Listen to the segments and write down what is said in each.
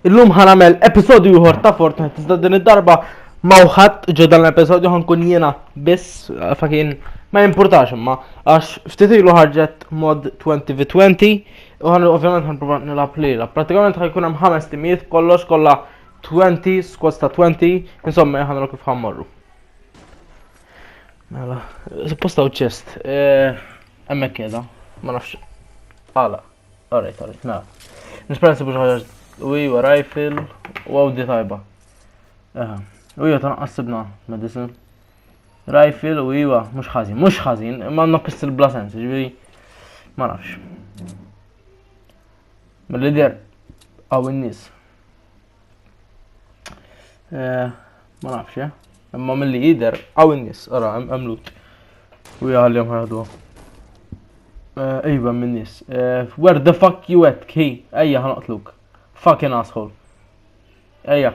Illum ħa nagħmel episodju ieħor ta' Fortnite iżda din id-darba ma wħadd ġo dan l-episodju ħankun jiena biss fakin ma jimpurtax imma għax ftit ilu ħarġet mod 20v20 u ħan ovvjament ħanprova nilgħab lilha. Pratikament ħajkun hemm ħames timijiet kollox kollha 20 squads ta' 20 insomma ħanra kif ħammorru. Mela, supposta u ċest, eh, hemmhekk kieda, ma nafx. Għala. Alright, alright, na. Nispera nsibu xi ħaġa u iwa rifle u għawdi tajba. Eħe. U iwa ta' naqqassibna medicine. Rifle u iwa mhux ħażin, mhux ħażin, imma għandna pistol bla sens, ġifieri ma nafx. Mill-lider għaw in-nies. Eh, ma nafx, eh. Imma mill-li jider, għaw n-nis, għara, għamlut. U jgħalli għadu. Eh, ejba minn nis. Eh, where the fuck you at, ki? Ejja, ħanqtluk. Fucking asshole. Ejja.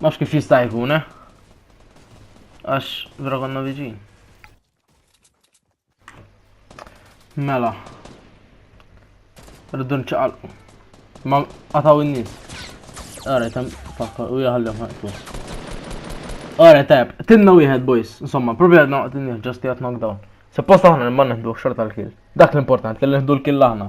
Mhux kif jista' jkun, eh? Għax vera konna viġin. Mela. Rridu nċaqalqu. Ma qataw in-nies. Ara, tam fakkar u jaħallem ħajtu. Ara, tajb. Tinna wieħed, boys. Insomma, probabli għadna waqt in-nies, ġasti għat knockdown. Suppost aħna nimman nħdu xorta l-kill. Dak l-importanti li nħdu l-kill aħna.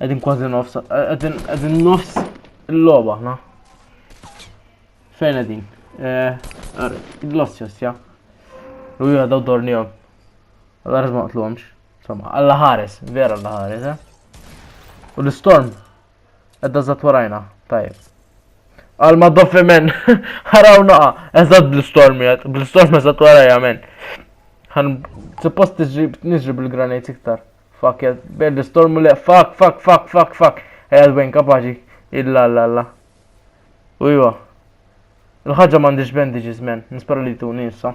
Edin kważi nofs, edin, edin nofs il-loba, na? Fejn edin? Eh, L-ossjos, ja? U jgħu daw dornijom. Għalla rizma għatlumx. Insomma, għalla ħares, vera għalla ħares, eh? U l-storm, edda zat warajna, tajib. Għal ma doffi men, ħaraw naqa, eżad bl-storm jgħat, bl-storm eżad warajja men. Għan, suppost nġib bil-granajt iktar. Fuck jad, bed l-istormu le, fuck, fuck, fuck, fuck, fuck. Ejja dwen kapaċi, illa, illa, illa. U jwa. Il-ħagġa mandiġ bandages, men, nispera li tu nisa.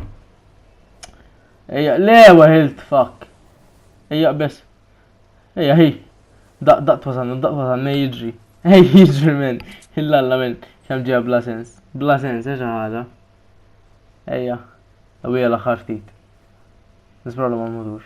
Ejja, le, wahilt, fuck. Ejja, bes. Ejja, hi. Daq, daq twasan, daq twasan, ne jidri. Ej, jidri, men. Illa, illa, men. Kam ġeja bla sens. Bla sens, eġa ħada. Ejja. Għawija laħħar ftit. Nispera li ma mudux.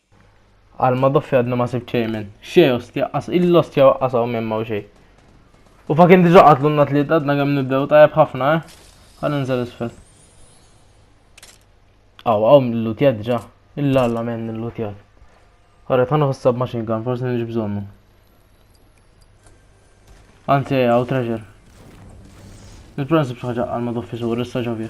Għal ma doffi għadna ma sib ċejmen. Xej ostja, qas il-ostja waqqas hawn minn u xej. U fa kien diġa qatlu n-nat li għadna kemm nibdew tajjeb ħafna, eh? Għan nżel isfel. Aw, aw, l-lutjad ġa. Il-lalla men l-lutjad. Għarra, ta' nħossab machine gun, forse nġi bżonnu. Anzi, għaw treasure. Il-prensib xaġa għal ma doffi sur, issa ġabir.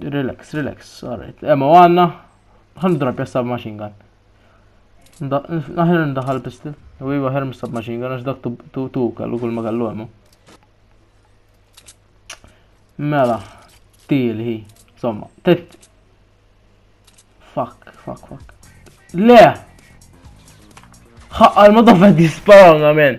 Relax, relax, alright. Emma eh, għanna, għan drapja submachine gun. Naħir ndaħal pistol, u jiva ħer submachine gun, għax dak tu tu kallu kull ma kallu emma. Mela, til hi, somma, tet. Fuck, fuck, fuck. Le! ħaqqal ma dafet disparanga men.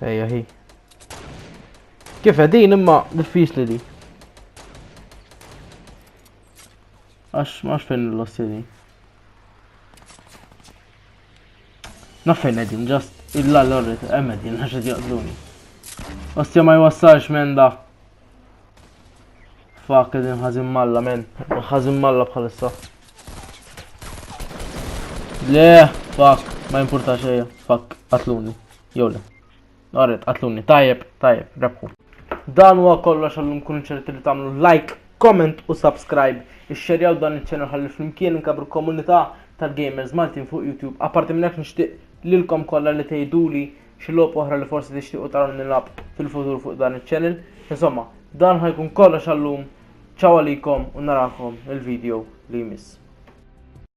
Ejja hi. Kif din imma diffiċli di. Għax max fejn l-lossi di. Naf fejn edin, just il-lallorrit, emmedin, għax id jaqdluni. Ostja ma jwassalx menda. Fuck, din ħazin malla, men. ħazin malla bħalissa. Le, fuck, ma importa xeja. Fuck, qatluni. Jowle. Għarret, qatluni. Tajjeb, tajjeb, rebħu. Dan huwa kollox għallum kun ċerti li tagħmlu like, comment u subscribe. Ixxerjaw dan iċ-ċenel ħalli flimkien inkabru komunità tal-gamers Maltin fuq YouTube. Apparti minn hekk nixtieq lilkom kollha li tgħiduli xi logħob oħra li forsi tixtiequ taraw nilgħab fil-futur fuq dan iċ-channel. Insomma, dan ħajkun kollox għallum. Ċaw għalikom u narakom il-video li jmiss.